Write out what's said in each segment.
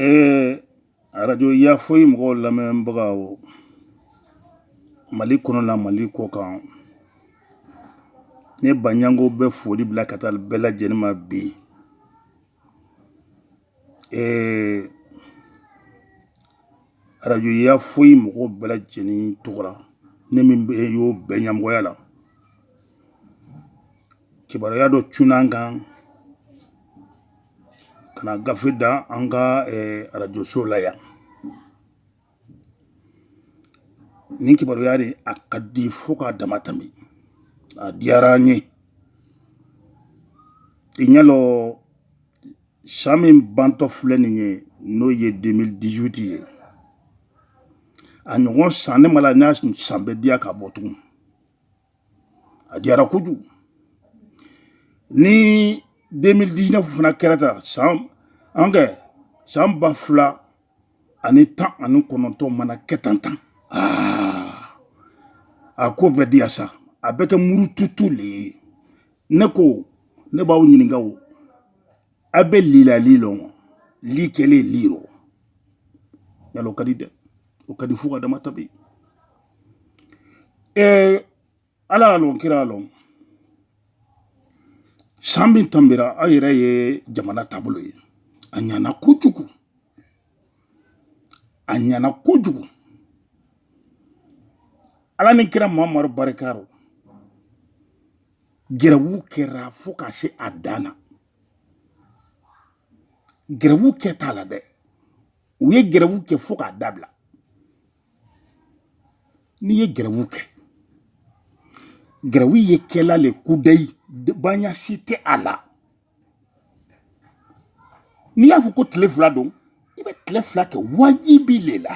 ee arajo ya foyi mɔgɔw lamɛnbagaw mali kɔnɔna mali kɔkan ne baɲango bɛ foli bila ka taa bɛɛ lajɛlen ma bi ee arajo ya foyi mɔgɔw bɛɛ lajɛlen tɔgɔ la ne min bɛ y'o bɛɛ ɲɛmɔgɔya la kibaruya dɔ cunna an kan ka gafe da an ka arajoso la yan ni kibaruya de a ka di fo k'a dama tɛmɛ a diyara n ye i ɲɛ lɔ san min bantɔ filɛ nin ye n'o ye 2018 ye a ɲɔgɔn san ne ma la n'a san bɛ diya k'a bɔ tugun a diyara kojugu ni 2019 fana kɛra tan san an kɛ san ba fila ani tan ani kɔnɔntɔn mana kɛ tan tan a ko bɛ diya sa a bɛ kɛ murututu le ye ne ko ne b'aw ɲininka o a bɛ li la li lɔn li kɛlen li rɔ yala o ka di dɛ o ka di fo k'a dama tanbi ee ala y'a lɔn kira lɔn san min tanbira aw yɛrɛ ye jamana taabolo ye a ɲana kojugu a ɲana kojugu ala ni kira mamadu barika rɔ gɛrɛwu kɛra fo ka se a dan na gɛrɛwu kɛ t'a la dɛ u ye gɛrɛwu kɛ fo k'a dabila n'i ye gɛrɛwu kɛ gɛrɛwu ye kɛla le kudayi baasi tɛ a la n'i y'a fɔ ko tile fila don i bɛ tile fila kɛ wajibi le la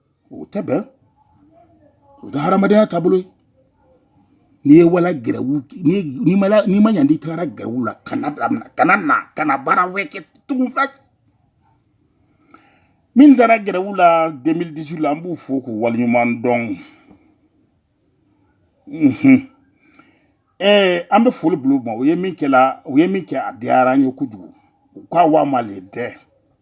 o tɛ bɛn o tɛ hadamadenya taabolo ye n'i ye wala gɛrɛwu n'i ma n'i ma ɲa n'i tagara gɛrɛwu la kana damina kana na kana baara wɛrɛ kɛ tugun fɛn min taara gɛrɛwu la 2018 la an b'u fo k'u waleɲuman dɔn ɛɛ an bɛ foli bila u ma u ye min kɛla u ye min kɛ a diyara an ye kojugu u k'a wa ma le dɛ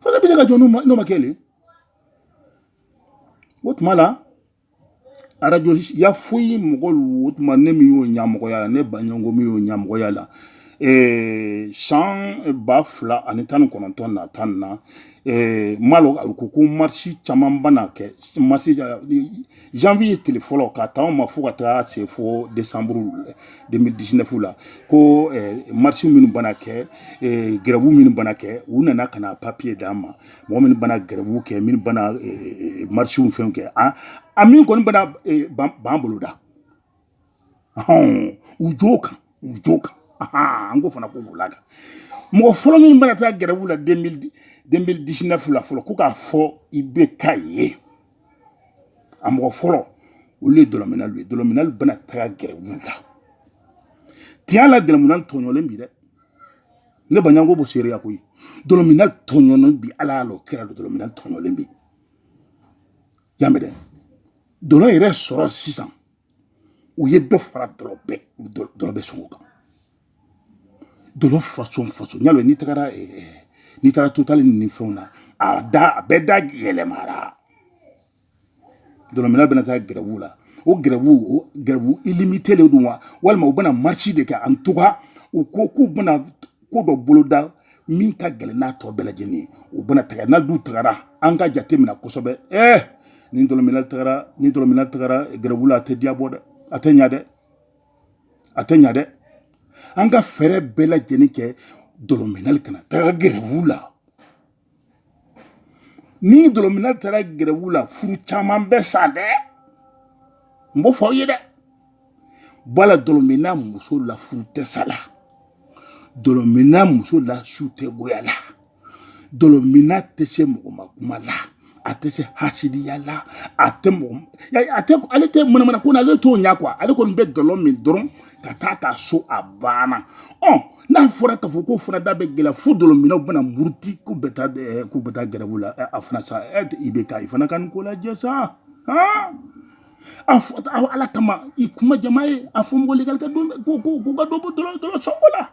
fo ne bɛ se ka jɔ n'o ma kɛ le o tuma la arajo ya foyi mɔgɔlu o tuma ne min y'o ɲɛmɔgɔya la ne baɲango min y'o ɲɛmɔgɔya la Eh, san ba fila ani tan ni kɔnɔntɔn na tan na eh, malo ko ko marisi caman bɛ na kɛ marisi janvier tile fɔlɔ ka taa ma fo ka taa se fo décembre 2019 la ko eh, marche minnu bana kɛ eh, gɛrɛbu minnu bana kɛ u nana ka na papier d'an ma mɔgɔ minnu bana gɛrɛbu kɛ minnu bana eh, eh, eh marchew fɛnw kɛ an ah, min kɔni bana eh, b'an bolo da hɔn u jo kan u jo kan an ko fana ko b'o la kan mɔgɔ fɔlɔ minnu bɛna taa gɛrɛbu la 2019 la fɔlɔ ko k'a fɔ IBK ye a mɔgɔ fɔlɔ olu ye dɔlɔminalu ye dɔlɔminalu bɛna taa gɛrɛbu la tiɲɛ la dɔlɔmina tɔɲɔlen bi dɛ ne baɲanko b'o seereya koyi dɔlɔminalu tɔɲɔlen bi ala y'a la o kɛra dɔlɔminalu tɔɲɔlen bi y'a mɛn dɛ dɔlɔ yɛrɛ sɔrɔ sisan u ye dɔ fara dɔlɔ bɛɛ dɔlɔ bɛɛ sɔngɔ kan dɔlɔ fasɔn fasɔn n y'a dɔn n'i tagara n'i taara totali ni fɛnw na a da a bɛɛ da yɛlɛmara dɔlɔmina bɛna taa gɛrɛbu la o gɛrɛbu o gɛrɛbu ilimite de don wa walima u bɛna marisi de kɛ an tuga u ko k'u bɛna ko dɔ boloda min ka gɛlɛn n'a tɔ bɛɛ lajɛlen ye o bɛna taga n'a dun tagara an ka jate minɛ kosɛbɛ ɛɛ ni dɔlɔmina tagara ni dɔlɔmina tagara gɛrɛbu la a tɛ diya bɔ dɛ a tɛ ɲa dɛ a tɛ ɲa dɛ an ka fɛɛrɛ bɛɛ lajɛlen kɛ dɔlɔminalu kana taga gɛrɛbu la ni dɔlɔmina taara gɛrɛwu la furu caman bɛ sa dɛ n b'o fɔ aw ye dɛ bala dɔlɔmina muso la furu tɛ sa la dɔlɔmina muso la su tɛ goya la dɔlɔmina tɛ se mɔgɔ ma kuma la a tɛ se hasidiya la a tɛ mɔgɔ a tɛ ale tɛ manamana ko na ale t'o ɲɛ kuwa ale kɔni bɛ dɔlɔ min dɔrɔn ka taa a ka so a banna ɔ n'a fɔra k'a fɔ k'o fana da bɛ gɛlɛya fo dɔlɔminaw bɛna muruti k'u bɛ taa eh, k'u bɛ taa gɛrɛbu la eh, a fana sa eh, IBK i fana ka nin ko lajɛ sa han a fɔ ala kama i kuma jama ye a fɔ mɔgɔ legali ka don ko ko ko ka dɔ bɔ dɔlɔ dɔlɔ sɔngɔ la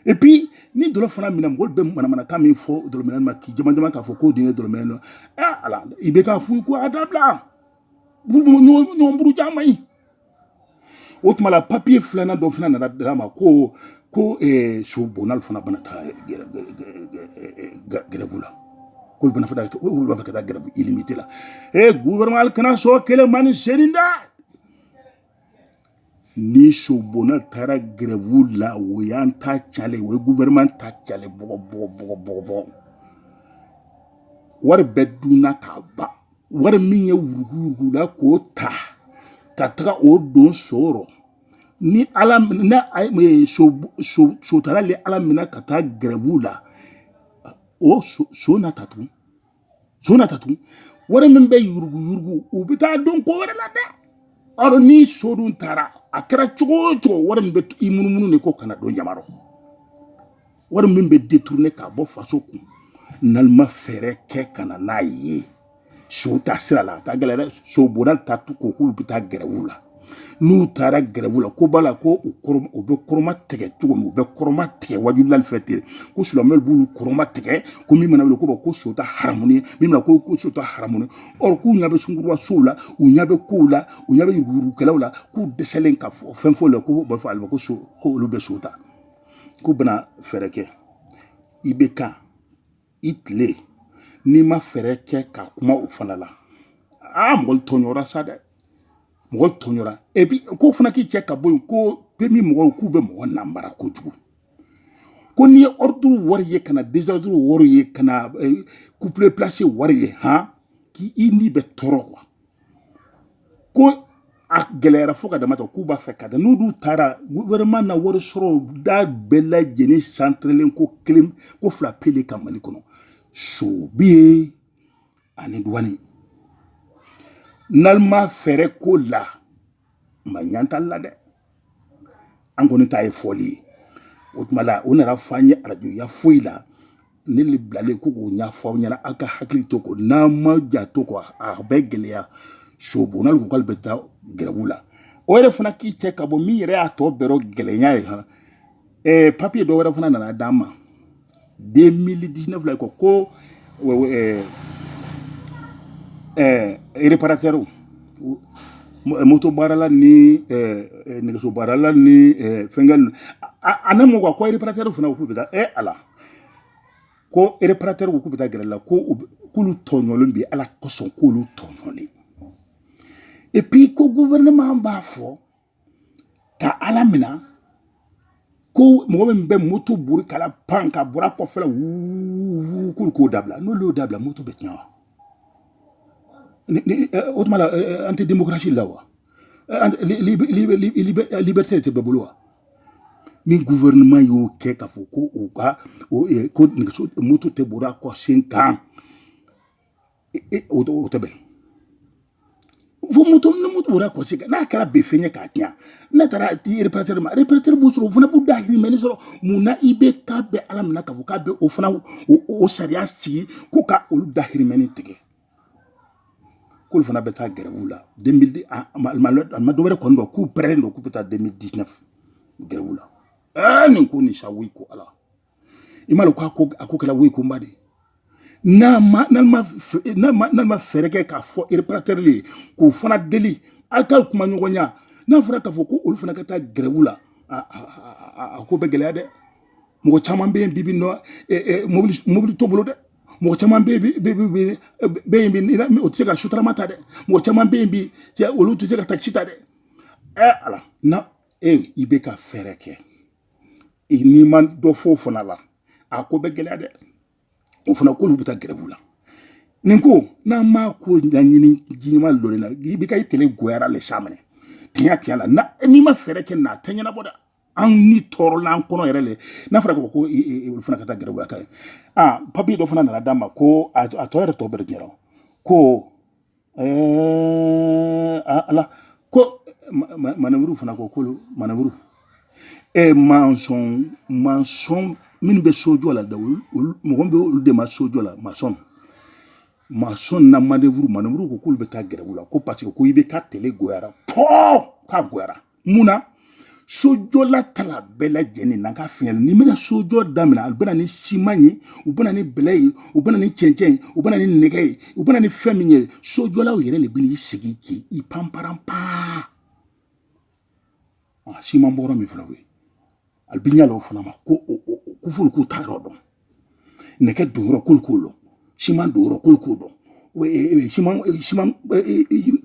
et puis ni dɔlɔ fana minɛ mɔgɔ bɛ manamanakan min fɔ dɔlɔmina ma k'i jama jama k'a fɔ k'o dun ye dɔlɔmina dɔ ɛ ala IBK a f'u ye ko a dabila ɲɔgɔn buruja man ɲi o tuma la papiye filanan dɔ fana nana d'an ma ko ko eh, so bonal fana bana taa eh, eh, gɛrɛbu la k'olu bana fana olu b'a fɛ ka taa gɛrɛbu ilimite la e guvɛrɛnɛman kana sɔn kelen ma ni senin da ni so bonal taara gɛrɛbu la o y'an ta cɛnlen o ye guvɛrɛnɛman ta cɛnlen bɔgɔ bɔgɔ bɔgɔ bɔgɔ bɔgɔ wari bɛɛ dunna k'a ban wari min ye yuruguyurugu la k'o ta ka taga o don so rɔ ni ala na sotala le ala minɛ ka taa gɛrɛbuw la o so na ta tugun so na ta tugun wari min bɛ yuruguyurugu u bɛ taa don ko wɛrɛ la dɛ ɔrɔ ni so dun taara a kɛra cogo o cogo wari min bɛ i munumunu de ko kana don jama rɔ wari min bɛ détourné k'a bɔ faso kun n'ale ma fɛɛrɛ kɛ ka na n'a ye sow ta sira la a ka gɛlɛ dɛ sow bonda ta tu ko k'olu bɛ taa gɛrɛw la n'u taara gɛrɛw la ko b'a la ko u kɔrɔ u bɛ kɔrɔma tigɛ cogo min u bɛ kɔrɔma tigɛ wajulilali fɛ ten ko silamɛw b'olu kɔrɔma tigɛ ko min mana wuli ko ko sow ta haramu ye min mana ko ko sow ta haramu ye ɔ k'u ɲɛ bɛ sungurunba sow la u ɲɛ bɛ kow la u ɲɛ bɛ yuruguyurugukɛlaw la k'u dɛsɛlen ka fɔ fɛn fɔ o la ko u b'a fɔ ale ma ko so ko olu bɛ sow ta k'u bɛna fɛɛrɛ kɛ i bɛ ka i tile n'i ma fɛɛrɛ kɛ ka kuma o fana la aa mɔgɔ tɔɲɔra sa dɛ mɔgɔ tɔɲɔra epi k'o fana k'i cɛ ka bɔ yen ko PMU mɔgɔw k'u bɛ mɔgɔ namara kojugu ko n'i ye ordre wari ye ka na désordre wari ye ka na eh, couplé placé wari ye han k'i i ni bɛ tɔɔrɔ kuwa ko a gɛlɛyara fo ka damatɛmɛ k'u b'a fɛ ka taa n'u dun taara gouvernement na wari sɔrɔ da bɛɛ lajɛlen santrelen ko kelen ko fila pe le kan mali kɔnɔ so bɛ yen ani duwani n'ale ma fɛɛrɛ k'o la ma ɲantali la dɛ an kɔni ta ye fɔli ye o tuma la o nana fɔ an ye arajoya foyi la ne le bilalen ko k'o ɲɛfɔ aw ɲɛna aw ka hakili to ko n'an ma janto ko a bɛ gɛlɛya sobonna ko k'ale bɛ taa gɛrɛbu la o yɛrɛ fana k'i cɛ ka bɔ min yɛrɛ y'a tɔ bɛɛ gɛlɛya ye han ɛɛ eh, papiye dɔ wɛrɛ fana nana d'an ma 2019 la kɔ ko ɛɛ ɛɛ reparatɛriw moto baarala ni ɛɛ eh, eh, nɛgɛso baarala ni ɛɛ fɛnkɛ ninnu a na mɔ kuwa ko reparatɛriw fana k'u bɛ taa ɛ ala ko reparatɛriw k'u bɛ taa gɛrɛ la ko k'olu tɔɲɔlen bɛ ala kosɔn k'olu tɔɲɔlen epi ko guvɛrɛnɛman b'a fɔ ka a lamina ko mɔgɔ min bɛ moto bori k'a lapan ka bori a kɔfɛla wuu k'olu k'o dabila n'olu y'o dabila moto bɛ tiɲɛ wa o tuma la an tɛ demokarasi la wa liberté tɛ bɛɛ bolo wa ni gouvernement y'o kɛ k'a fɔ ko u ka ko nɛgɛso moto tɛ bori a kɔsen kan o tɛ bɛn fo moto ni moto bɔra kɔsi kan n'a kɛra bɛ fɛn ye k'a tiɲɛ n'a taara di ereparatɛri ma ereparatɛri b'o sɔrɔ o fana b'u dahirimɛ ni sɔrɔ mun na IBK bɛ a laminɛ k'a fɔ k'a bɛ o fana o sariya sigi ko ka olu dahirimɛ ni tigɛ k'olu fana bɛ taa gɛrɛbu la deux mille dix a ma dɔ wɛrɛ kɔni dɔn k'u pɛrɛnnen don k'u bɛ taa deux mille dix-neuf gɛrɛbu la ɛɛ nin ko nin sa woyi ko ala i m'a dɔn k'a ko a ko kɛra woyi koba de ye n'a ma n'a ma n'a ma n'a ma fɛɛrɛ kɛ k'a fɔ ereparatɛri ye k'o fana deli aw ka kuma ɲɔgɔnya n'a fɔra k'a fɔ ko olu fana ka taa gɛrɛwu la a ko bɛ gɛlɛya dɛ mɔgɔ caman bɛ yen bi bi nɔ mobili mobili t'o bolo dɛ mɔgɔ caman bɛ yen bi o tɛ se ka sotarama ta dɛ mɔgɔ caman bɛ yen bi olu tɛ se ka takisi ta dɛ ɛ ala na e IBK fɛɛrɛ kɛ n'i ma dɔ fɔ o fana la a ko bɛ gɛlɛya dɛ o fana k'olu bɛ taa gɛrɛbu la nin ko n'an m'a ko ɲɛɲini jiɲɛma lɔri la IBK i tele goyara le sa minɛ tiɲɛ tiɲɛ la na n'i ma fɛɛrɛ kɛ na a tɛ ɲɛnabɔ dɛ an ni tɔɔrɔla an kɔnɔ yɛrɛ le n'a fɔra ko ko olu fana ka taa gɛrɛbu la ka ye a papiye dɔ fana nana d'a ma ko a tɔ yɛrɛ tɔ bɛɛ de ɲɛna ko Ɛɛ a- ala ko ma- ma- maneburu fana ko k'olu maneburu ɛ mansɔn mansɔn minnu bɛ sojɔ la dɛ olu olu- mɔgɔ min bɛ olu dɛmɛ sojɔ la masɔn masɔn na maneburu maneburu ko k'olu bɛ taa gɛrɛwu la ko parce que ko IBK tele goyara pɔɔ k'a goyara mun na sojɔla ta la bɛɛ lajɛlen na ka fiɲɛ n'i bɛna sojɔ daminɛ a bɛ na ni siman ye u bɛ na ni bɛlɛ ye u bɛ na ni cɛncɛn ye u bɛ na ni nɛgɛ ye u bɛ na ni fɛn min ye sojɔlaw yɛrɛ de bɛ na i sigi k'i i panparan paa siman bɔrɔ min fana bɛ yen a bɛ ɲa o fana ma ko o ko f'olu k'u ta yɔrɔ dɔn nɛgɛ don yɔrɔ k'olu k'o dɔn siman don yɔrɔ k'olu k'o dɔn siman siman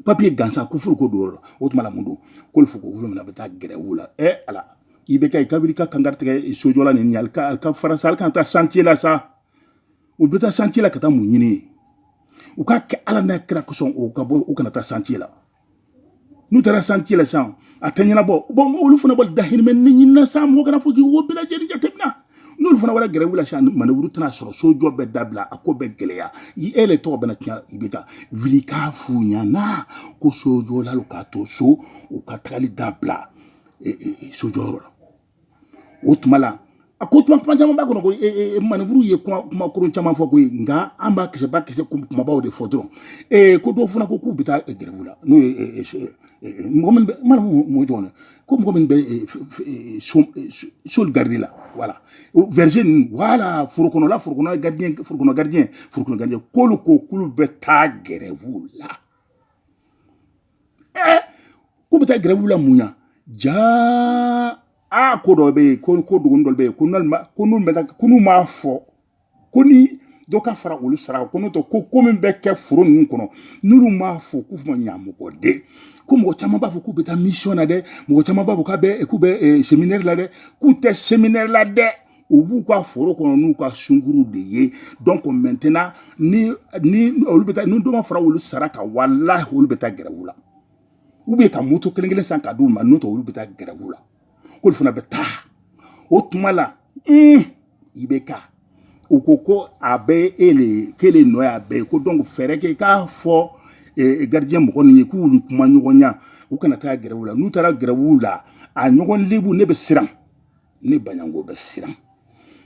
papiye gansan ko f'olu k'o don yɔrɔ dɔn o tuma na mun don k'olu fɔ ko olu fana bɛ taa gɛrɛwu la ɛ ala IBK i ka wuli ka kankari tigɛ sojɔla nin ɲali ka ka fara sa alu kana taa santiye la sa u bɛ taa santiye la ka taa mun ɲini u k'a kɛ ala n'a kira kosɔn u ka bɔ u kana taa santiye la n'u taara santiye la sa a tɛ ɲɛnabɔ bɔn olu fana b'u dahirimɛ ni ɲini na sa mɔgɔ kana fɔ k'i wo bɛɛ lajɛlen jateminɛ n'olu fana wara gɛrɛwu la sisan maneburu tɛna sɔrɔ sojɔ bɛ dabila a ko bɛ gɛlɛya i e le tɔgɔ bɛna tiɲɛ IBK wuli k'a f'u ɲɛna ko sojɔlalu ka to so u ka tagali dabila sojɔyɔrɔ la o tuma la a ko kuma kuma caman b'a kɔnɔ ko ee maneburu ye kuma kuma kolon caman fɔ koyi nka an b'a kisɛba kisɛ kumabaw de fɔ dɔrɔn ee ko dɔw fana ko k'u bɛ taa grève la n'o ye mɔgɔ min bɛ mana mun jɔn na ko mɔgɔ min bɛ so garidi la wala verger ninnu wala forokɔnɔla forokɔnɔ gardien forokɔnɔ gardien forokɔnɔ gardien k'olu ko k'olu bɛ taa grève la ɛɛ k'u bɛ taa grève la mun ya jaa aa ko dɔ bɛ yen ko ko dogoni dɔ bɛ yen ko n'olu ko n'u bɛ taa ko n'u m'a fɔ ko ni dɔ ka fara olu sara kan n'o tɛ ko ko min bɛ kɛ foro ninnu kɔnɔ n'olu m'a fɔ k'u ma ɲa mɔgɔ den ko mɔgɔ caman b'a fɔ k'u bɛ taa mission na dɛ mɔgɔ caman b'a fɔ k'a bɛ k'u bɛ séminaire la dɛ k'u tɛ séminaire la dɛ u b'u ka foro kɔnɔ n'u ka sunkuruw de ye donc maintenant ni ni olu bɛ taa ni dɔ ma fara olu sara kan walahi olu bɛ taa grève la ou bien ka moto kelen kelen san ka d'u ma n'o tɛ olu bɛ taa grève la k'olu fana bɛ taa o tuma la un IBK u ko ko a bɛɛ ele ye k'ele nɔ y'a bɛɛ ye ko donc fɛɛrɛ kɛ k'a fɔ eh, gardien mɔgɔ ninnu ye k'u ni kumaɲɔgɔnya u kana taa grève la n'u taara grève la a ɲɔgɔn lebu ne bɛ siran ne baɲango bɛ siran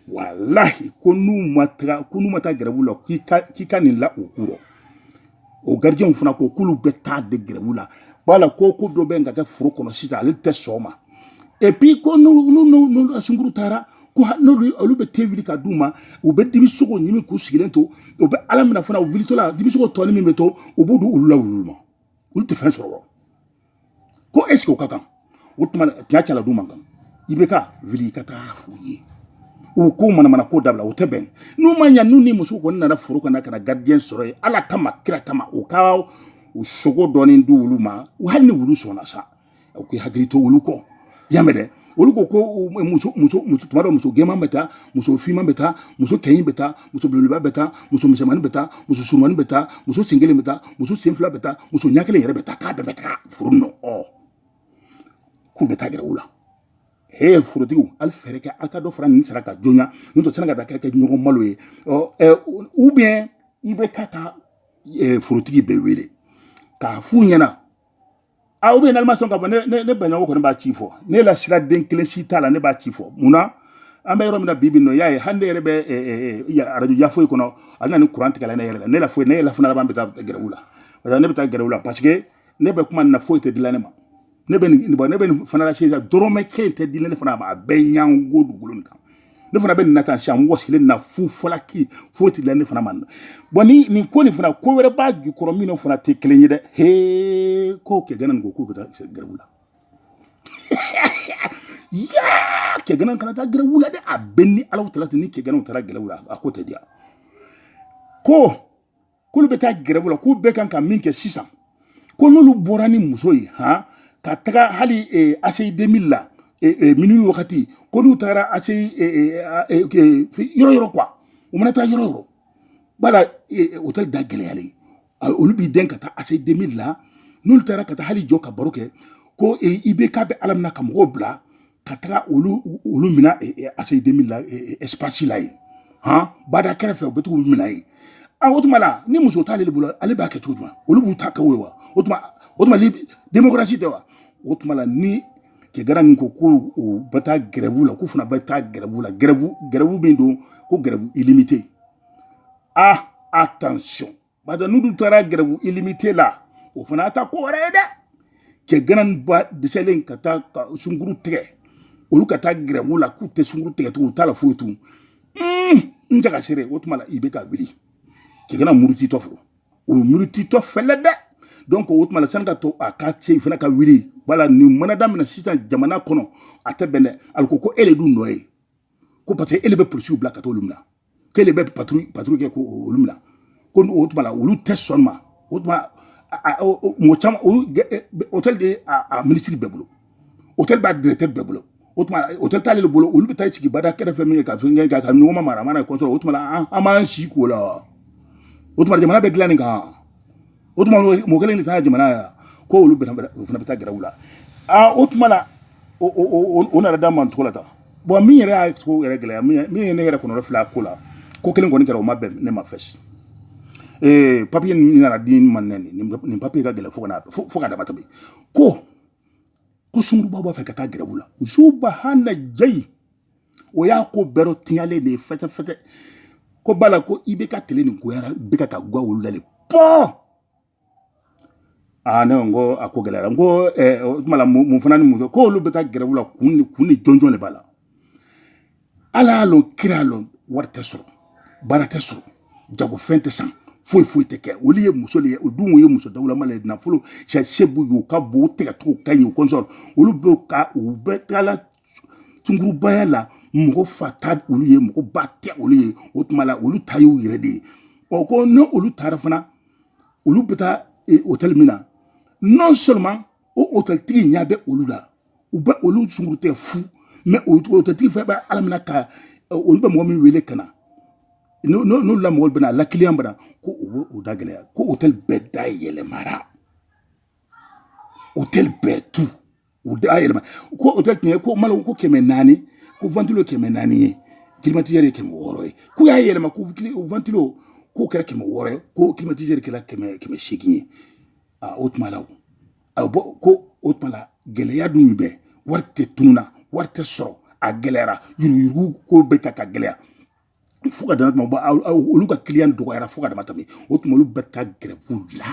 walahi ko n'u ma taga ko n'u ma taa grève la k'i ka k'i ka nin la u kɔrɔ o gardienw fana ko k'olu bɛ taa de grève la wala ko ko dɔ bɛ ka kɛ foro kɔnɔ sisan ale tɛ sɔn ma et puis ko n'u n'u n'u sunkuru taara ko n'olu olu bɛ te wuli ka d'u ma u bɛ dibisogo ɲini k'u sigilen to u bɛ ala minɛ fana u wulitɔla dibisogo tɔnin min bɛ to u b'o di olu la wulu ma olu tɛ fɛn sɔrɔ ko est-ce que o ka kan o tuma tiɲɛ cɛla du man kan IBK wuli i ka taa f'u ye u ka manamana ko dabila o tɛ bɛn n'u ma ɲa n'u ni muso kɔni nana foro kɔnɔ ka na gardien sɔrɔ yen ala kama kira kama u ka sogo dɔɔni di olu ma hali ni wulu sɔnna sa u k'u hakili to olu kɔ y'a mɛn dɛ olu ko ko muso muso muso tuma dɔ muso gɛman bɛ taa muso finman bɛ taa muso kɛɲin bɛ taa muso belebeleba bɛ taa muso misɛnmanin bɛ taa muso surunmanin bɛ taa muso sen kelen bɛ taa muso sen fila bɛ taa muso ɲɛ kelen yɛrɛ bɛ taa k'a bɛɛ bɛ taa foro kɔnɔ k'u bɛ taa grève la he forotigiw hali fɛɛrɛ kɛ aw ka dɔ fara ninnu sara kan joona n'o tɛ sani ka taa kɛ kɛ ɲɔgɔn malo ye ɔ ɛ ou bien IBK ka forotigi bɛɛ wele k'a f'u ɲɛna a ou bien n'ale ma sɔn ka bɔ ne ne baɲango kɔni b'a ci fɔ ne la sira den kelen si t'a la ne b'a ci fɔ mun na an bɛ yɔrɔ min na bi bi nɔ y'a ye hali ne yɛrɛ bɛ arajo yafoyi kɔnɔ a bɛna ni kuran tigɛla ne yɛrɛ la ne la foyi ne yɛrɛ fana laban bɛ taa grève la parce que ne bɛ taa grève la parce que ne bɛ kuma nin na foyi tɛ dila ne ma ne bɛ nin bɔ ne bɛ nin fana la sisan dɔrɔmɛ kelen tɛ dila ne fana ma a bɛɛ ɲango dugukolo nin kan ne fana bɛ nin na tan sisan mɔgɔ sigilen na fu falaki foyi tɛ dilan ne fana ma na bon ni nin ko nin fana ko wɛrɛ b'a jukɔrɔ min fana tɛ kelen ye dɛ hee k'o kɛ gana nin ko k'o bɛ taa gɛrɛbu la yaa kɛ gana kana taa gɛrɛbu la dɛ a bɛ ni ala tala tɛ ni kɛ gana taara gɛrɛbu la a ko tɛ diya ko k'olu bɛ taa gɛrɛbu la k'u bɛɛ kan ka min kɛ sisan ko n'olu bɔra ni muso ye han ka taga hali eh, aseyi demili la eh, eh, minuit wagati ko n'u taara aseyi yɔrɔ yɔrɔ quoi u mana taa yɔrɔ yɔrɔ wala hôtel da gɛlɛyalen ye olu b'i den ka taa aseyi demili la n'olu taara ka taa hali jɔ ka baro kɛ ko i bɛ k'a bɛ ala mina ka mɔgɔw bila ka taga olu olu mina aseyi demili la espasi la yen han bada kɛrɛfɛ u bɛ t'u mina yen a o tuma la ni muso t'ale bolo ale b'a kɛ cogo jumɛn olu b'u ta kɛ o ye wa o tuma o tuma demokarasi tɛ wa o tuma la ni kɛ gana nin ko ko o bɛ taa gɛrɛbu la k'u fana bɛ taa gɛrɛbu la gɛrɛbu gɛrɛbu min don ko gɛrɛbu ilimite ah attention bada n'u dun taara gɛrɛbu ilimite la o fana ta ko wɛrɛ ye dɛ kɛ gana ba dɛsɛlen ka taa ka sunkuru tigɛ olu ka taa gɛrɛbu la k'u tɛ sunkuru tigɛ tugun u t'a la foyi tun n jaga sere o tuma la i bɛ ka wuli kɛ gana murutitɔ fo o ye murutitɔ fɛlɛ dɛ donc o tuma la sani ka to a ka se fana ka wuli wala nin mana damina sisan jamana kɔnɔ a tɛ bɛn dɛ ali ko ko e le dun nɔ ye ko parce que e le bɛ polisiw bila ka t'olu minɛ k'ele bɛ paturuyi paturuyi kɛ k'olu minɛ ko o tuma la olu tɛ sɔn a ma o tuma mɔgɔ caman hôtel b'a minisiri bɛɛ bolo hôtel b'a directeur bɛɛ bolo o tuma hôtel t'ale de bolo olu bɛ taa sigi bada kɛrɛfɛ min ye ka fɛn kɛ ka ɲɔgɔn ma mara a mana k'o sɔrɔ o tuma la an b'an si k'o la wa o tuma jamana bɛ dilan nin kan o tuma mɔgɔ kelen de taara jamana yan ko olu o fana bɛ taa gɛrɛbu la aa o tuma la o nana da man cogo la tan bon min yɛrɛ y'a to yɛrɛ gɛlɛya min ye ne yɛrɛ kɔnɔnafili ko la ko kelen kɔni kɛra o ma bɛn ne ma fɛsi ee papiye min nana di ma nɛ nin papiye ka gɛlɛn fo ka fo ka damatɛmɛ ko ko sunkuruba b'a fɛ ka taa gɛrɛbu la u subahanalayi o y'a ko bɛɛ dɔ tiɲalen de ye fɛtɛfɛtɛ ko bala ko i bɛ ka tile nin goyara bɛ ka ka guwa wolo la le pɔɔ aa ne ko n ko a ko gɛlɛyara n ko eh, o tuma la mun mun fana ni mun kɛ k'olu bɛ taa gɛrɛbu la kun ni kun ni jɔnjɔn de b'a la ala y'a lɔn kira y'a lɔn wari tɛ sɔrɔ baara tɛ sɔrɔ jagofɛn tɛ san foyi foyi tɛ kɛ olu ye muso de ye o dun ye muso dawulama le ye nafolo sɛ se b'u ye u ka bon u tɛgɛcogo ka ɲi u kɔnsɔn olu bɛ ka u bɛɛ taala sunkurubaya la mɔgɔ fa tɛ olu ye mɔgɔ ba tɛ olu ye o tuma la olu ta y'u yɛrɛ de ye ɔ ko ni olu taara fana olu bɛ taa hôtel min na non seulement o hôtel tigi ɲɛ bɛ olu la u bɛ olu sunkurutigɛ fu mais hôtel tigi fɛnɛ bɛ ala mina ka olu bɛ mɔgɔ min wele ka na n'olu la mɔgɔw bɛna la kiliyan bɛna ko u bɛ u da gɛlɛya ko hôtel bɛɛ da yɛlɛmara hôtel bɛɛ tu u da yɛlɛma ko hôtel tun ye ko malo ko kɛmɛ naani ko ventilo kɛmɛ naani ye climatiseur ye kɛmɛ wɔɔrɔ ye k'u y'a yɛlɛma ko ventilo k'o kɛra kɛmɛ wɔɔrɔ ye ko climatiseur kɛra kɛmɛ kɛmɛ seegin ye a o tuma la o a bɔ ko o tuma la gɛlɛya dun bɛ wari tɛ tunun na wari tɛ sɔrɔ a gɛlɛyara yuruguyurugu ko bɛ taa ka gɛlɛya fo ka dama tɛmɛ olu ka kiliyan dɔgɔyara fo ka dama tɛmɛ o tuma olu bɛ taa gɛrɛfu la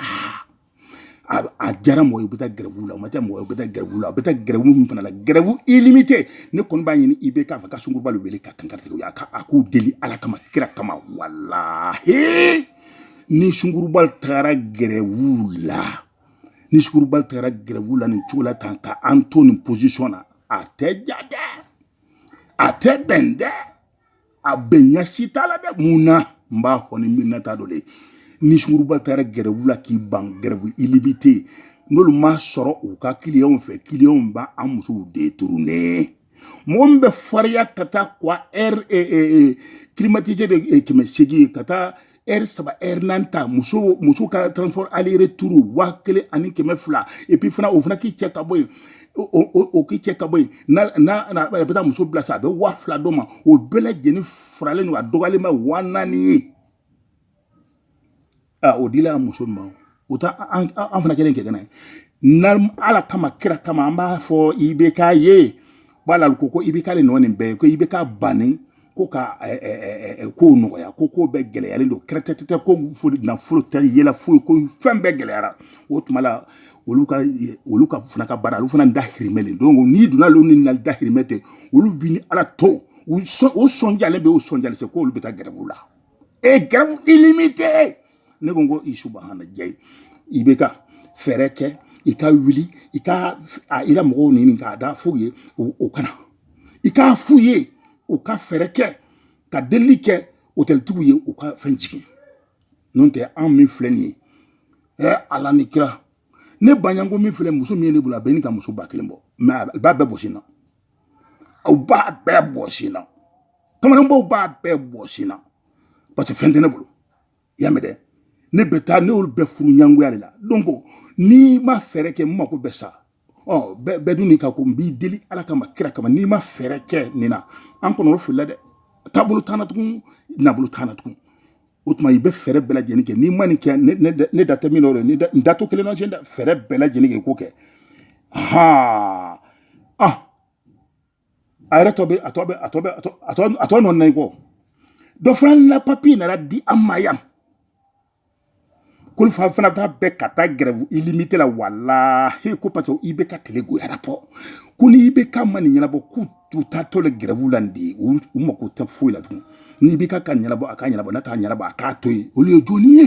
a diyara mɔgɔ ye u bɛ taa gɛrɛfu la o ma diya mɔgɔ ye u bɛ taa gɛrɛfu la u bɛ taa gɛrɛfu min fana la gɛrɛfu ilimite ne kɔni b'a ɲini IBK fɛ ka sunkuruba de wele ka kankaritigi u y'a ka a k'u deli ala kama kira kama walahi ni sunkuruba tagara gɛrɛfu la ni sunkuruba tagara gɛrɛfu la nin cogo la tan ka an to nin posisɔn na a tɛ ɲa dɛ a tɛ bɛn dɛ a bɛnya si t'a la dɛ mun na n b'a fɔ ni mirinna t'a dɔ le ni sunguruba taara gɛrɛwu la k'i ban gɛrɛwu ilimite n'olu ma sɔrɔ u ka kiliyanw fɛ kiliyanw bɛ an musow de turunnen mɔgɔ min bɛ fariya ka taa trois heures e, e, e, climatisé de kɛmɛ seegin ka taa ɛri saba ɛri naani ta muso muso ka transport aller retour waa kelen ani kɛmɛ fila et puis fana o fana k'i cɛ ka bɔ yen o k'i cɛ ka bɔ yen n'a n'a a bɛ taa muso bila sa a bɛ waa fila d'o ma o bɛɛ lajɛlen faralen don a dɔgɔyalenba waa naani ye aa o dila a muso ma o u ta an fana kelen kɛ kɛnɛ na ala kama kira kama an b'a fɔ IBK ye bala ko ko IBK le nɔ nin bɛɛ ye ko IBK banni ko ka ko nɔgɔya ko ko bɛɛ gɛlɛyalen don kɛrɛtɛtɛ ko nafolo tɛ yɛlɛ foyi ko fɛn bɛɛ gɛlɛyara o tuma la olu ka olu ka fana ka baara olu fana dahirimɛ le donc n'i donna olu ni na dahirimɛ tɛ olu b'i ni ala to u sɔn o sɔnjalen bɛ o sɔnjalen se k'olu bɛ taa gɛrɛfu la e gɛrɛfu illimité ne ko n ko subahanalayi IBK fɛɛrɛ kɛ i ka wuli i ka i la mɔgɔw ɲini ka t'a f'u ye u ka na i k'a f'u ye u ka fɛɛrɛ kɛ ka delili kɛ otɛlitigiw ye u ka fɛn jigin n'o tɛ anw min filɛ nin ye ɛ ala ni kira ne baɲanko min filɛ muso min ye ne bolo a bɛ ni ka muso ba kelen bɔ mɛ a b'a bɛɛ bɔsi n na aw b'a bɛɛ bɔsi n na kamalenbaw b'a bɛɛ bɔsi n na parce que fɛn tɛ ne bolo y'a mɛn dɛ ne bɛ taa ne y'olu bɛɛ furu ɲangoya de la donc n'i ma fɛɛrɛ kɛ n mako bɛ sa ɔ bɛɛ dun nin ka ko n b'i deli ala kama kira kama n'i ma fɛɛrɛ kɛ nin na an kɔnɔ o filila dɛ taabolo t'an na tugun nabolo t'an na tugun o tuma i bɛ fɛɛrɛ bɛɛ lajɛlen kɛ n'i ma nin kɛ ne da tɛ min dɔ n da to kelen na tiɲɛ dɛ fɛɛrɛ bɛɛ lajɛlen kɛ i k'o kɛ haa ah a yɛrɛ tɔ bɛ a tɔ bɛ a tɔ bɛ a tɔ a tɔ a tɔ nɔ na i kɔ dɔ fana na papiye nana di an ma yan k'olu fana fana b'a fɛ ka taa gɛrɛfu ilimite la walahi ko parce que IBK tile goyara pɔ ko ni IBK ma nin ɲɛnabɔ k'u u taatɔ le gɛrɛfu la nin de ye u mako tɛ foyi la tugun n'IBK k'a ɲɛnabɔ a k'a ɲɛnabɔ n'a t'a ɲɛnabɔ a k'a to yen olu ye jɔni ye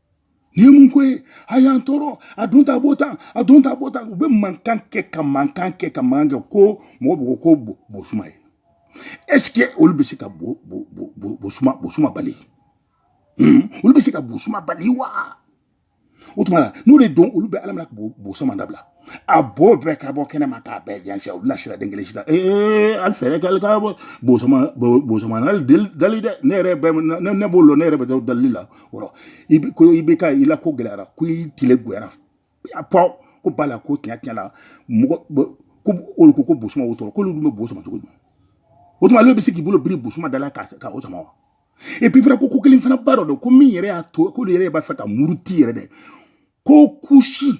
nin ye mun ko ye a y'an tɔɔrɔ a dun taa bo ta a dun taa bo ta u bɛ mankan kɛ ka mankan kɛ ka mankan kɛ ko mɔgɔ bɛ ko ko bosuma ye est ce que olu bɛ se ka bo bo bo bo bosuma bosuma bali hmm? olu bɛ se ka bosuma bali wa o tuma na n'o de don olu bɛ ala minɛ ka bosuma dabila a b'o bɛɛ ka bɔ kɛnɛ ma k'a bɛɛ jansi olu la sira den kelen sida ee ali fɛɛrɛ k'ale ka bɔ bosuma bosuma n'ale dali dɛ ne yɛrɛ bɛ ne ne b'o lɔn ne yɛrɛ bɛ taa dali la o rɔ i bɛ ko IBK i la ko gɛlɛyara ko i tile goyara a pɔ ko bala ko tiɲɛ tiɲɛ la mɔgɔ ko olu ko ko bosuma o tɔɔrɔ k'olu dun bɛ bo sama cogo di o tuma ale bɛ se k'i bolo biri bosuma da la ka ka o sama wa et puis fana ko ko kelen fana ba dɔ don ko min yɛrɛ y'a to k'olu yɛrɛ b'a fɛ ka muruti yɛrɛ dɛ ko kusi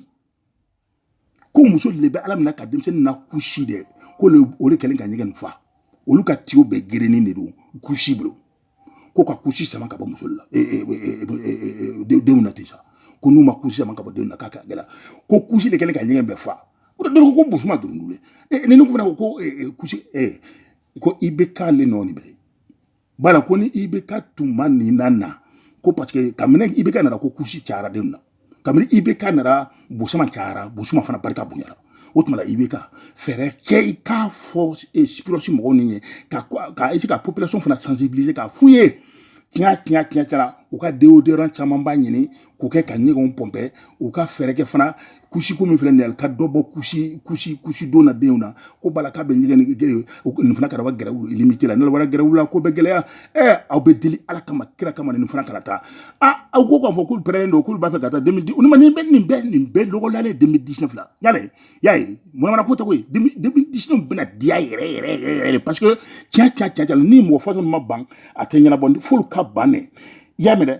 ko musow de bɛ ala minɛ ka denmisɛnnin na kusi dɛ ko o de kɛlen ka ɲɛgɛn nin fa olu ka tiyo bɛɛ gerennen de don kusi bolo ko ka kusi sama ka bɔ musow la denw na ten sa ko n'u ma kusi sama ka bɔ denw na k'a kɛ gɛlɛ ko kusi de kɛlen ka ɲɛgɛn bɛɛ fa o de dɔrɔn ko bosuma dɔrɔn ye ni ne ko fana ko kusi ko IBK le nɔ nin bɛɛ ye bala ko ni IBK tuma nin na na ko parce que kabini IBK nana ko kusi cayara denw na kabini IBK nana bosuma cayara bosuma fana barika bonyara o tuma la IBK fɛɛrɛ kɛ i k'a fɔ sipirɔsi mɔgɔw ni ye ka ka ese ka population fana sensibiliser k'a f'u ye tiɲɛ tiɲɛ tiɲɛ tiɲɛ u ka deodorant camanba ɲini k'o kɛ ka ɲɛgɛnw pɔnpɛ u ka fɛɛrɛ kɛ fana kusiko min filɛ nin ye ka dɔ bɔ kusi kusi kusi don na denw na ko bala k'a bɛ ɲɛgɛn geren nin fana kana gɛrɛfu ilimite la nalawara gɛrɛfu la ko bɛ gɛlɛya ɛ aw bɛ deli ala kama kira kama nin fana kana taa a aw ko k'a fɔ k'u pɛrɛnnen don k'olu b'a fɛ ka taa demidi olu ma nin bɛ nin bɛɛ nin bɛɛ lɔgɔlalen demidi disine fila y'a ye y'a ye manamana ko tɛ ko ye demidi disine bɛna diya yɛrɛ yɛrɛ yɛrɛ yɛrɛ parce que tiɲɛ tiɲɛ tiɲɛ tiɲɛ ni mɔgɔ fɔtɔ ma ban a tɛ ɲɛnabɔ f'olu ka ban ne y'a mɛn dɛ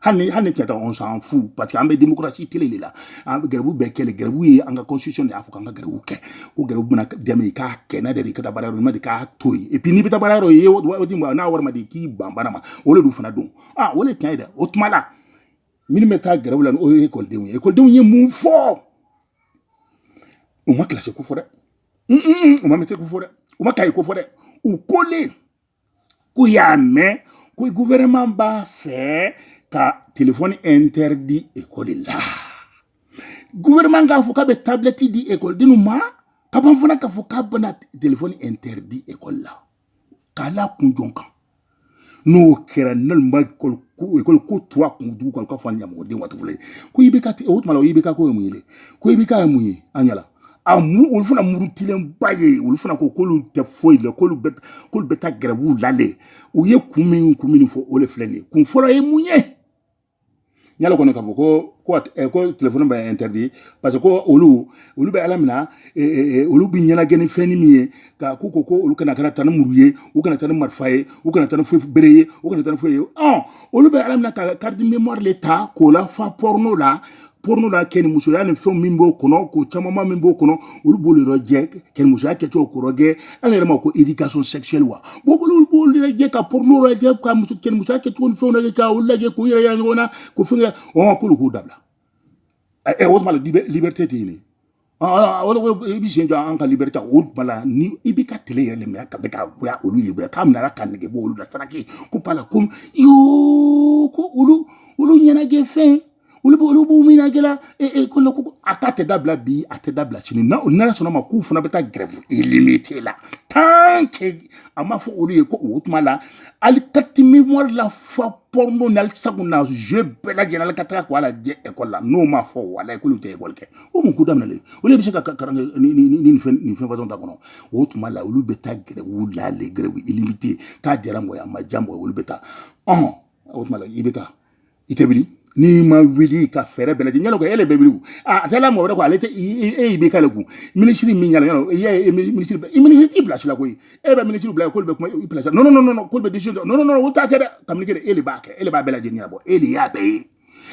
hali hali ni cɛta on s'en fout parce que an bɛ démocratie tele de la an bɛ gɛrɛbu bɛɛ kɛ le gɛrɛbu ye an ka constitution de y'a fɔ k'an ka gɛrɛbu kɛ ko gɛrɛbu bɛna dɛmɛ i k'a kɛ n'a diyara i ka taa baara yɔrɔ n'a ma diya k'a to yen et puis n'i bɛ taa baara yɔrɔ ye waati min n'a wari ma di k'i ban baara ma o de dun fana don ah o de tiɲɛ ye dɛ o tuma la minnu bɛ taa gɛrɛbu la o ye ekɔlidenw ye ekɔlidenw ye mun fɔ u ma kilasi ko fɔ dɛ u ma mɛtiri ko fɔ dɛ u ma kaye ko fɔ dɛ u ko le k'u y'a mɛn ko gouvernement b'a fɛ ka telefɔni interdit ekɔli la gouvernement k'a fɔ k'a bɛ tablɛti di ekɔlidenw ma ka ban fana k'a fɔ k'a bɛna telefɔni interdit ekɔli la k'a la kun jɔn kan n'o kɛra naloma ekɔli ko tuwa kun dugu kɔnɔ k'a fɔ a ɲamɔgɔden waati fɔlɔ ye ko i bɛ ka o tuma la o i bɛ ka ko ye mun ye dɛ ko i bɛ ka ye mun ye an ɲɛ la a mu olu fana murutilenba ye olu fana ko k'olu tɛ foyi la k'olu bɛ k'olu bɛ taa gɛrɛbu la le u ye kun min kun min fɔ o le filɛ nin ye kun fɔlɔ ye mun ye n y'a kɔnɔ k'a fɔ ko ko eh, ko telefɔni bɛ interdit parce que ko olu olu bɛ ala mina eh, eh, olu bɛ ɲɛnajɛ ni fɛnni min ye ka ko ko ko olu kana kana taa ni muru ye u kana taa ni marifa ye u kana taa ni foyi bere ye u kana taa ni foyi ye ɔn olu bɛ ala mina ka carte mémoire le ta k'o lafa porno la porno la kɛnimusoya ni fɛnw min b'o kɔnɔ ko camanba min b'o kɔnɔ olu b'olu yɔrɔ jɛ kɛnimusoya kɛcogo kɔrɔ gɛ ala yɛrɛ ma ko éducation sexuelle wa bon olu b'olu lajɛ ka porno lajɛ ka muso kɛnimusoya kɛcogo ni fɛnw lajɛ ka olu lajɛ k'u yɛrɛ yira ɲɔgɔn na k'o fɛn kɛ ɔn k'olu k'o dabila ɛ o tuma la liberté tɛ yen i bɛ sen jɔ an ka liberté o bala ni i bɛ ka tile yɛrɛ minɛ ka bɛ ka goya olu ye bɛɛ k'a minɛ ka nege bɔ olu la saraki ko bala ko yoo ko olu olu ɲɛnajɛ fɛn olu bɛ olu b'u ɲɛnajɛ la e e ko ko a ta tɛ dabila bi a tɛ dabila sini na o nana sɔnna ma k'u fana bɛ taa gɛrɛfu illimitée la tant que a ma fɔ olu ye ko o tuma la ali carte mémoire lafa porno na sago na je bɛɛ lajɛlen ka taga k'o lajɛ ekɔli la n'o ma fɔ wala ekɔli tɛ ekɔli kɛ o mun ko daminɛlen olu bɛ se ka karan nin fɛn nin fɛn fasɔn ta kɔnɔ o tuma la olu bɛ taa gɛrɛbu la le gɛrɛbu illimitée k'a diyara mɔgɔ a ma diya mɔgɔ olu bɛ taa ɔn o tuma la i bɛ taa i tɛ wuli n'i ma wuli ka fɛɛrɛ bɛɛ lajɛlen yala ko ele bɛ wuli a taala mɔgɔ wɛrɛ ko ale tɛ e y'i bɛ k'ale kun minisiri min yala yala i y'a ye minisiri bɛ minisiri t'i place la koyi e bɛ minisiri bila k'olu bɛ kuma i place la non non non k'olu bɛ décision non non non o t'a kɛ dɛ kabini kɛ e de b'a kɛ e de b'a bɛɛ lajɛlen ɲɛnabɔ e de y'a bɛɛ ye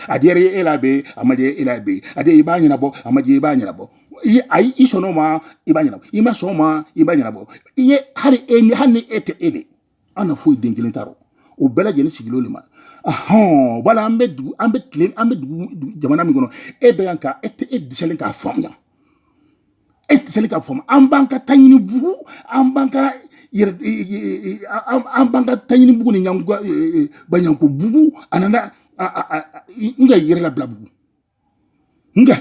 a diyara e la be a ma diya e la be a diyara i b'a ɲɛnabɔ a ma diya i b'a ɲɛnabɔ i ayi i sɔnna o ma i b'a ɲɛnabɔ i ma sɔn o ma i b'a ɲɛnabɔ i ye hali e ni hali ni e tɛ e de an na foyi den kelen t'a rɔ o bɛɛ lajɛlen sigilen de ma ahɔn wala an bɛ dugu an bɛ tile an bɛ dugu jamana min kɔnɔ e bɛ yan ka e tɛ e dɛsɛlen k'a faamuya e tɛ seli ka faamu an b'an ka taɲini bugu an b'an ka yɛrɛ an b'an ka taɲini bugu ni ɲɛngo baɲɛngo bugu ani an ka yɛrɛ labila bugu n ka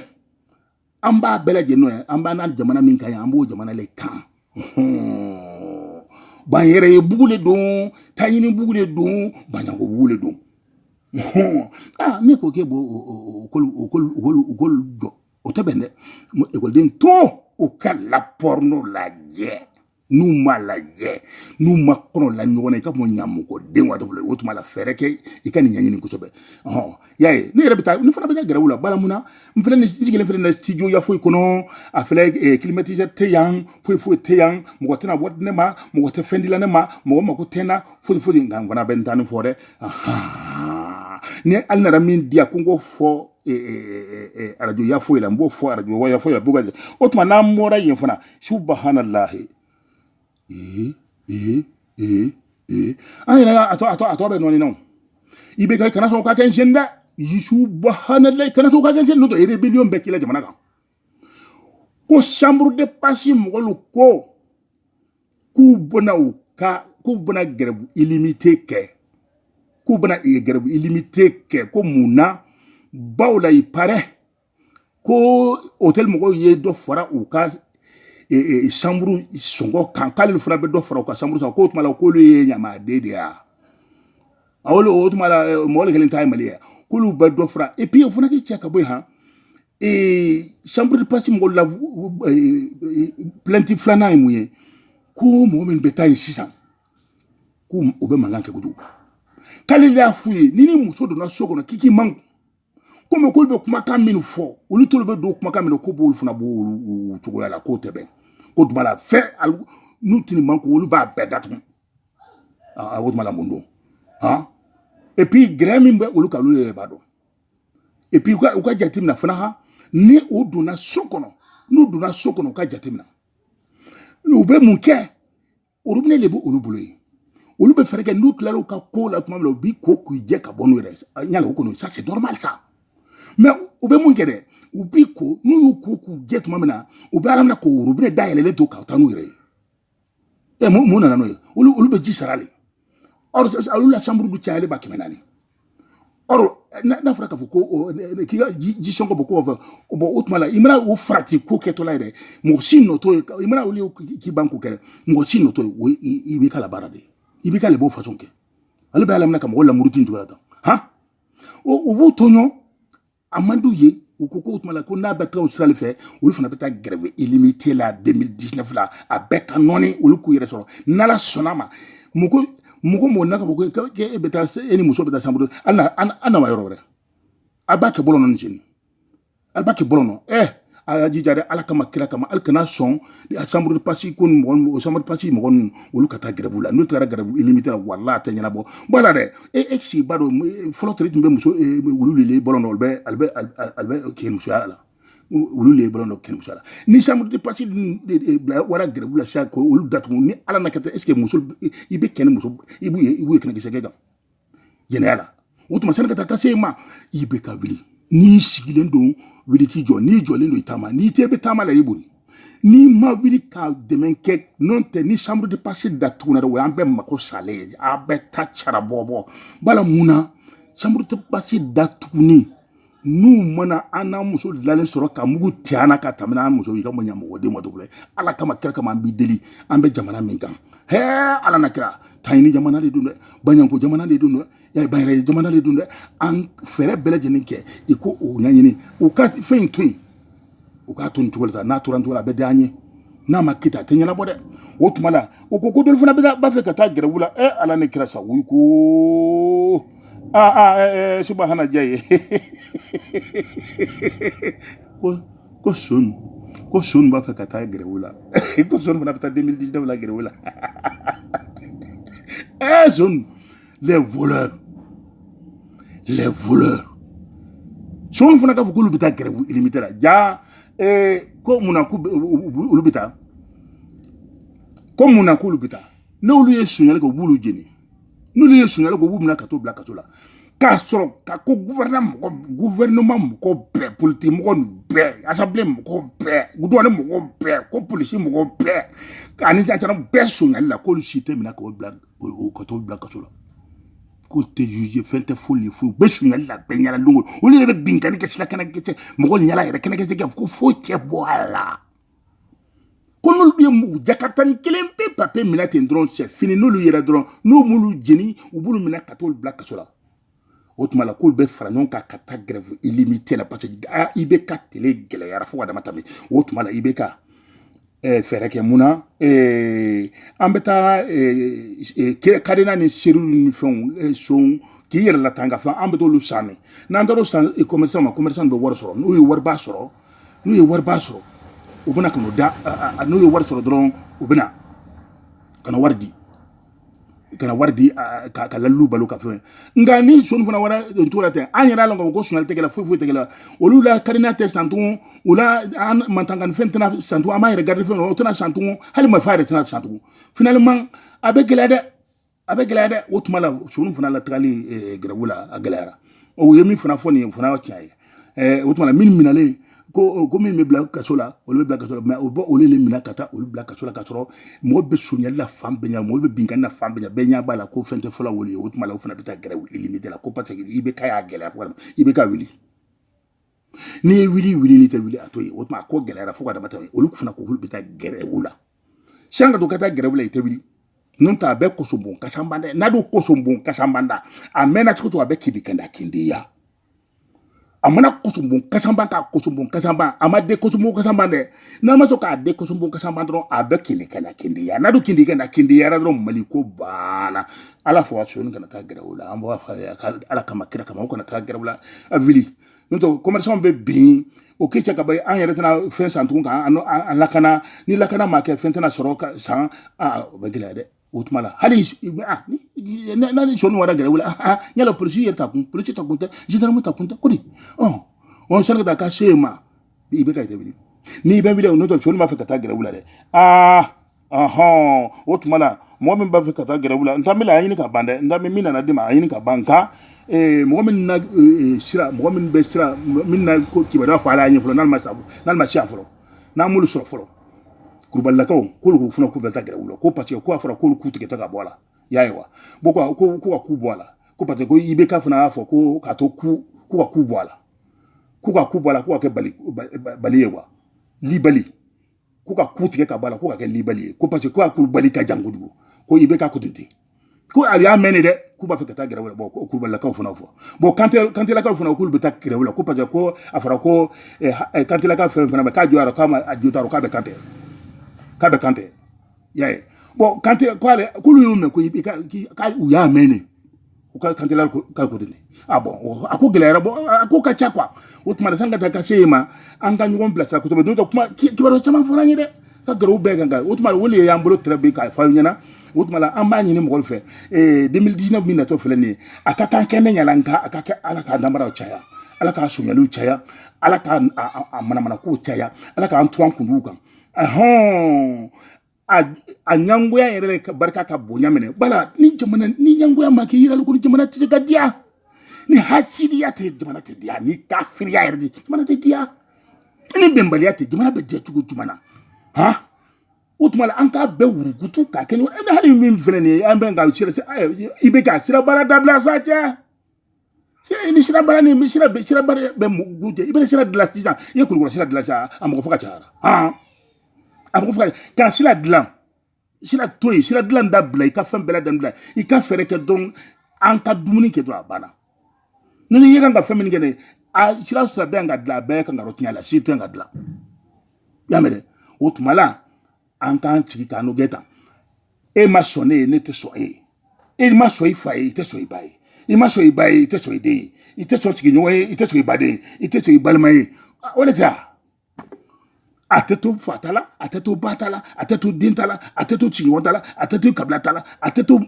an b'a bɛɛ lajɛlen ye an b'an n'an jamana min kan ye an b'o jamana le kan ban yɛrɛ ye bugu le don taɲini bugu le don baɲɛngo bugu le don ne ko k'e b'o kolu jɔ o tɛ bɛn dɛ ekɔliden tɔn u ka lapɔri n'o lajɛ n'u ma lajɛ n'u ma kɔnɔ la ɲɔgɔn na i ka mɔ ɲamɔgɔden waati bolo o tuma la fɛɛrɛ kɛ i ka nin ɲɛɲini kosɛbɛ ɔhɔn y'a ye ne yɛrɛ bɛ taa ne fana bɛ kɛ gɛrɛwu la bala mun na n fana ni sigilen filɛ na studio ya foyi kɔnɔ a filɛ eh, climatiseur tɛ yan foyi foyi tɛ yan mɔgɔ tɛna wari di ne ma mɔgɔ tɛ fɛn di la ne ma mɔgɔ mako tɛ n na foyi foyi nka n fana bɛ n ta nin fɔ dɛ n'alu nana min di yan ko n k'o fɔ e, e, e, arajo ya foyi la n b'o fɔ arajo ya foyi la b'o ka jɛ o tuma n'an bɔra yen fana subahanalahi ee ee ee ee an yɛrɛ a tɔ a tɔ a tɔ bɛ nɔɔni na o i bɛ kɛ kana sɔn o ka kɛ n sen dɛ subahanalahi kana sɔn o ka kɛ n sen n'o tɛ rébellion bɛ k'i la jamana kan ko chambre de passe mɔgɔlu ko k'u bɛna u ka k'u bɛna grève illimitée kɛ k'u bɛna grève illimitée kɛ ko mun na bawo la il paraît ko hôtel mɔgɔw ye dɔ fara u ka chambre sɔngɔ kan k'ale fana bɛ dɔ fara u ka chambre sɔngɔ k'o tuma la k'olu ye ɲamaden de y'a wolo o tuma la mɔgɔ kelen ta ye mali ye k'olu bɛ dɔ fara et puis o fana k'i cɛ ka bɔ yen han ee chambre passe mɔgɔ la plainte filanan ye mun ye ko mɔgɔ min bɛ taa yen sisan ko o bɛ mankan kɛ kojugu k'ale de y'a f'u ye ni ni muso donna so kɔnɔ k'i k'i makun k'olu bɛ kumakan min fɔ olu t'olu bɛ don kumakan min na ko bɔli fana b'o cogoya la k'o tɛ bɛn ko tuma la fɛn n'u tɛ nin makun olu b'a bɛɛ datugu aa o tuma la mun don han epi gɛrɛ min bɛ olu kan olu yɛrɛ b'a dɔn epi u ka u ka jateminɛ fana ha ni u donna so kɔnɔ n'u donna so kɔnɔ u ka jateminɛ u bɛ mun kɛ orobinɛ de bɛ olu bolo yen olu bɛ fɛɛrɛ kɛ n'u tilara u ka ko la tuma min na u b'i ko k'u jɛ ka bɔ n'u yɛrɛ y'a la o kɔni ça c'est normal ça mais u bɛ mun kɛ dɛ u b'i ko n'u y'u ko k'u jɛ tuma min na u b'a laminɛ ka orobinɛ dayɛlɛlen to ka taa n'u yɛrɛ ye ɛ mun mun nana n'o ye olu olu bɛ ji sara de olu la chambre bɛɛ cayalen ba kɛmɛ naani dɔrɔn n'a fɔra k'a fɔ ko k'i ka ji sɔngɔ bɔ ko fɛ o bɔ o tuma la i mana o farati ko kɛtɔla ye dɛ mɔgɔ si nɔ t'o ye i mana olu ye k'i ban ko kɛ mɔgɔ si nɔ t'o ye o i b'i ka la baara de ye i b'i ka le b'o façon kɛ ale b'a laminɛ ka mɔgɔ lamuru tun juguyara tan han o b'u tɔɲɔ a man d'u ye u ko k'o tuma la ko n'a bɛ taa o sira de fɛ olu fana bɛ taa grève illimitée la 2019 la a bɛɛ ka nɔɔni olu k'u yɛrɛ sɔrɔ n'ala sɔnna ma mɔgɔ mɔgɔ mɔgɔ n'a ka fɔ ko e bɛ taa e ni muso bɛ taa chambre an na wa yɔrɔ wɛrɛ a b'a kɛ bɔlɔn na nin sen in a b'a kɛ bɔlɔn na ɛ a y'a jija dɛ ala kama kira kama alu kana sɔn a chambre de passe ko ni mɔgɔ o chambre de passe mɔgɔ ninnu olu ka taa grève la n'u taara grève illimitée la wala a tɛ ɲɛnabɔ bon ala dɛ e e sigi ba don fɔlɔ teri tun bɛ muso wulu lele bɔlɔn na olu bɛ ale bɛ ale bɛ kɛ musoya la olu le bɔlɔn dɔ kɛ musoya la ni chambre de passe dun bila wara grève la sisan ko olu datugu ni ala na kɛ est ce que muso i bɛ kɛ ni muso i b'u ye i b'u ye kɛnɛkisɛ kɛ kan jɛnɛya la o tuma sani ka taa ka se a ma i bɛ ka wuli n'i sigilen don wuli k'i jɔ n'i jɔlen don i taama n'i tun bɛ taama la i boli n'i ma wuli ka dɛmɛ kɛ n'o tɛ ni chambre de passe datugunna dɛ o y'an bɛɛ mako salen ye a bɛɛ ta cara bɔbɔ bala mun na chambre de passe datugunni n'u mana an n'an muso lalen sɔrɔ ka mugu ci an na ka tɛmɛ n'an muso ye ka mɔɲa mɔgɔ den ma cogo la ala kama kira kama an b'i deli an bɛ jamana min kan hɛɛ ala n'a kira taɲini jamana de don dɛ baɲɛngo jamana de don dɛ y'a bayɛrɛ jamana de don dɛ an fɛɛrɛ bɛɛ lajɛlen kɛ i ko o ɲɛɲini u ka fɛn in to yen u k'a to nin cogo la tan n'a tora nin cogo la a bɛ diya an ye n'a ma kɛ tan a tɛ ɲɛnabɔ dɛ o tuma la o ko ko dɔlu fana b'a fɛ ka taa grève la ɛ ala ni kira sa wuyi ko aa aa ɛɛ subahana diya ye ko ko sonw ko sonw b'a fɛ ka taa grève la ko sonw fana bɛ taa 2019 la grève la ɛɛ sonw les voleurs les voleurs sonw fana k'a fɔ k'olu bɛ taa grève illimitée la ja eh, ko mun na k'olu bɛ taa ko mun na k'olu bɛ taa n'olu ye sonyali kɛ u b'olu jeni n'olu ye sonyali kɛ u b'u minɛ ka t'u bila kaso la k'a sɔrɔ ka ko gouvernement mɔgɔ gouvernement mɔgɔ bɛɛ politiki mɔgɔ nin bɛɛ assemblée mɔgɔ bɛɛ douane mɔgɔ bɛɛ ko polisi mɔgɔ bɛɛ ani gendarme bɛɛ sonyali la k'olu si tɛ minɛ k'o bila o ka t'o bila kaso la k'olu tɛ jugé fɛn tɛ foyi ye foyi u bɛ sonyali la bɛɛ ɲɛna don o don olu yɛrɛ bɛ binkani kɛ sira kɛnɛkɛtɛ mɔgɔ ɲɛla yɛrɛ kɛnɛkɛtɛ kɛ ko foyi tɛ bɔ a la ko n'olu ye u jakaritanin kelen pe pe pe minɛ ten dɔrɔn c'est fini n'olu yera dɔrɔn n'u m'olu jeni u b'olu minɛ ka t'olu bila kaso la o tuma la k'olu bɛ fara ɲɔgɔn kan ka taa grève illimitée la parce que a i bɛ ka tele gɛlɛyara fo ka dama tɛmɛ o tuma la i bɛ ka eh, fɛɛrɛ kɛ mun na eh, an bɛ taa eh, kadena ni serrure ni fɛnw san k'i yɛrɛ latanga fɛn an bɛ t'olu san de n'an taara o san commerçant ma commerçant bɛ wari sɔrɔ n'u ye wariba sɔrɔ n'u ye wariba sɔrɔ u bɛna ka n'o da n'u ye wari sɔrɔ dɔrɔn u bɛna ka na wari di kana wari di ka ka lalu balo ka fɛn nka ni soni fana wara cogo la tɛ an yɛrɛ la ko sonyali tɛ kɛla foyi foyi tɛ kɛla olu la karina tɛ san tugun o la an mantankan fɛn tɛna san tugun an b'a yɛrɛ garidi fɛn o tɛna san tugun hali marifa yɛrɛ tɛna san tugun finalement a bɛ gɛlɛya dɛ a bɛ gɛlɛya dɛ o tuma la soni fana la tagali gɛrɛbu la a gɛlɛyara o ye min fana fɔ nin ye fana tiɲɛ ye ɛɛ o tuma na minnu minɛlen ko ko min bɛ bila kaso la olu bɛ bila kaso la mɛ o bɛ olu de minɛ ka taa olu bila kaso la ka sɔrɔ mɔgɔ bɛ sonyali la fan bɛɛ ɲɛ mɔgɔ bɛ binkanni na fan bɛɛ ɲɛ bɛɛ ɲɛ b'a la ko fɛn tɛ fɔlɔ wuli o tuma la o fana bɛ taa gɛrɛwu min de la ko paseke IBK y'a gɛlɛya fo IBK wuli n'i ye wuli wuli n'i tɛ wuli a to yen o tuma a ko gɛlɛyara fo ka dama tɛmɛ olu fana ko k'olu bɛ taa gɛrɛwu la sani ka to ka taa gɛrɛwu la i tɛ wuli n'o tɛ a bɛ kosɔn bon kasan banda n'a dun kosɔn bon kasan banda a mɛnna cogo cogo a bɛ kindi kɛ na kindiya a mana kosɔnbon kasanba k'a kosɔnbon kasanba a ma den kosɔnbon kasanba dɛ n'a ma sɔn k'a den kosɔnbon kasanba dɔrɔn a bɛ kindi kɛ na kindiya n'a dun kindi kɛ na kindiyara dɔrɔn mali ko banna ala fo a soni kana taa gɛrɛwu la an b'a fɔ ala kama kira kama o kana taa gɛrɛwu la a wuli n'o tɛ commerçant bɛ bin o k'i cɛ ka ban an yɛrɛ tɛna fɛn san tugun k'an lakana ni lakana ma kɛ fɛn tɛna sɔrɔ san o bɛ gɛlɛya dɛ o tuma la hali n'ale soni wara gɛrɛwu la yala polisi yɛrɛ ta kun polisi ta kun tɛ zandaramu ta kun tɛ ko di ɔn sani ka taa ka se yen ma IBK jate wuli n'i bɛ wuli n'o tɛ soni b'a fɛ ka taa gɛrɛwu la dɛ aa ɔhɔn o tuma la mɔgɔ min b'a fɛ ka taa gɛrɛwu la n t'an bɛ la a ɲini ka ban dɛ n t'an bɛ min nana d'i ma a ɲini ka ban nka mɔgɔ min na sira mɔgɔ min bɛ sira min na ko kibaruya fɔ ala y'a ɲɛ fɔlɔ n'ale ma se a fɔlɔ n'an m'olu sɔrɔ fɔlɔ kurubalilakaw k'olu k'u fana k'u bɛ taa gɛrɛwu la ko parce que ko a fɔra k'olu ku tigɛ ta ka bɔ a la y'a ye wa bon ko ko ko ka ku bɔ a la ko parce que ko IBK fana y'a fɔ ko k'a to ku ko ka ku bɔ a la ko ka ku bɔ a la ko ka kɛ bali bali ye wa libali ko ka ku tigɛ ka bɔ a la ko ka kɛ libali ye ko parce que ko kurubali ka jan kojugu ko IBK ko ten ko a y'a mɛn de dɛ k'u b'a fɛ ka taa gɛrɛwu la bɔn ko kulubalilakaw fana fɔ bɔn kante kantelakaw fana k'olu bɛ taa gɛrɛwu la ko parce que ko a fɔra ko eh, eh, kantelaka fɛn fana ma k'a jɔyɔrɔ k'a ma a jotaro k'a bɛ kante k'a bɛ kante y'a ye bɔn kante k'ale k'olu y'o mɛn ko i ka u y'a mɛn de u ka kantelaka ka ko de a bɔn a ko gɛlɛyara bɔ a ko ka ca kuwa o tuma na sani ka taa ka se yen ma an ka ɲɔgɔn bilasira kosɛbɛ n'o tɛ kuma kibaruya caman fɔra an ye dɛ ka gɛrɛwu bɛɛ kan kan o tuma o de y'an bolo tɛrɛ bi k'a fɔ aw ɲɛna o tuma la an b'a ɲini mɔgɔw fɛ ee 2019 min natɔ filɛ nin ye a ka kan kɛnɛ ɲala nka a ka kɛ ala k'a namaraw caya ala k'a sonyaliw caya ala k'a manamanakow caya ala k'an turan kunduw kan ahɔn a a ɲangoya yɛrɛ ka barika ka bonya minɛ bala ni jamana ni ɲangoya ma kɛ yirali ko ni jamana tɛ se ka diya ni hasidiya tɛ jamana tɛ diya ni kafiriya yɛrɛ tɛ jamana tɛ diya ni bɛnbaliya tɛ jamana bɛ diya cogo jumɛn na han o tuma la an k'a bɛɛ wurukutu k'a kɛ ɲɔgɔn hali min filɛ nin ye an bɛ ka sira i bɛ ka sira baara dabila sa cɛ i ni sira baara ni sira sira baara bɛ mugu cɛ i bɛ sira dilan sisan i ye kulukɔrɔ sira dilan sisan a mɔgɔ fo ka cayara a mɔgɔ fo ka kana sira dilan sira to yen sira dilan dabila i ka fɛn bɛɛ lajɛlen bila i ka fɛɛrɛ kɛ dɔrɔn an ka dumuni kɛ dɔrɔn a banna ni ne ye kan ka fɛn min kɛ ne a sira sira bɛɛ ka dilan a bɛɛ kan ka yɔrɔ tiɲɛ la si tɛ ka dilan y'a mɛn dɛ o tuma la an k'an sigi k'an n'o kɛ tan e ma sɔn ne ye ne tɛ sɔn e ye e ma sɔn i fa ye i tɛ sɔn i ba ye i ma sɔn i ba ye i tɛ sɔn i den ye i tɛ sɔn sigiɲɔgɔn ye i tɛ sɔn i baden ye i tɛ sɔn i balima ye o de tɛ a a tɛ to fa ta la a tɛ to ba ta la a tɛ to den ta la a tɛ to sigiɲɔgɔn ta la a tɛ to kabila ta la a tɛ to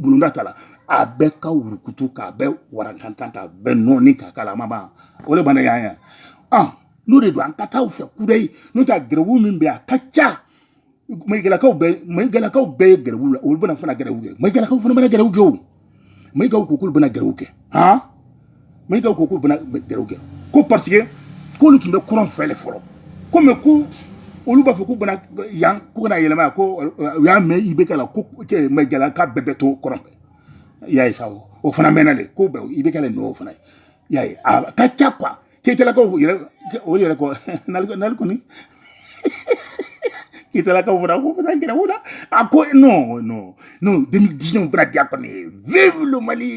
bulonda ta la a bɛɛ ka wurukutu k'a bɛɛ warankantan k'a bɛɛ nɔɔni k'a k'a la a ma ban o de banna yan yan n'o de don an ka taa u fɛ kudayi n'o tɛ gɛrɛwu min bɛ a ka ca mayigalakaw bɛɛ mayigalakaw bɛɛ ye gɛrɛwu la olu bɛna fana gɛrɛwu kɛ mayigalakaw fana bɛna gɛrɛwu kɛ o mayigaw ko k'olu bɛna gɛrɛwu kɛ han mayigaw ko k'olu bɛna gɛrɛwu kɛ ko parce que k'olu tun bɛ kɔrɔn fɛ de fɔlɔ ko mɛ ko olu b'a fɔ k'u bɛ na yan k'u kana yɛlɛma yan ko u y'a mɛn ibeka la ko mayigalaka bɛɛ bɛ to kɔrɔn fɛ i y'a ye sa o fana mɛnna de ko bɛɛ ibeka la nɔ o fana ye i y'a ye a ka ca quoi keyitalakaw yɛrɛ o yɛrɛ kɔ nali kɔni keyitalakaw fana ko fana gɛrɛwu la a ko non non non demi diɲɛ bɛna diya kɔni vive le mali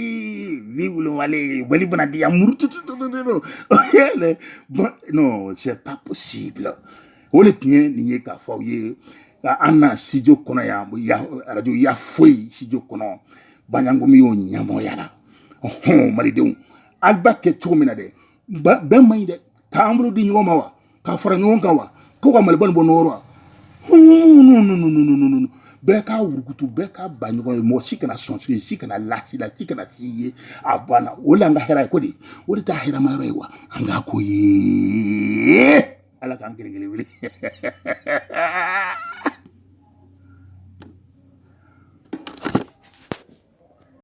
vive le mali mali bɛna diya muru tututututu non c'est pas possible o de tun ye nin ye k'a fɔ aw ye an na studio kɔnɔ yan arajo ya foyi studio kɔnɔ banyangomi y'o ɲɛmɔgɔya la ɔhɔn malidenw ala b'a kɛ cogo min na dɛ bɛn man ɲi dɛ k'an bolo di ɲɔgɔn ma wa ka fara ɲɔgɔn kan wa ko ka maliba nin bɔ nɔgɔ la wa bɛɛ k'a wurukutu bɛɛ ka ban ɲɔgɔn ye mɔgɔ si kana sɔn si si kana la si la si kana si ye a banna o la an ka hɛrɛ ye ko de o de t'a hɛrɛma yɔrɔ ye wa an k'a ko ye ala k'an kelen kelen wuli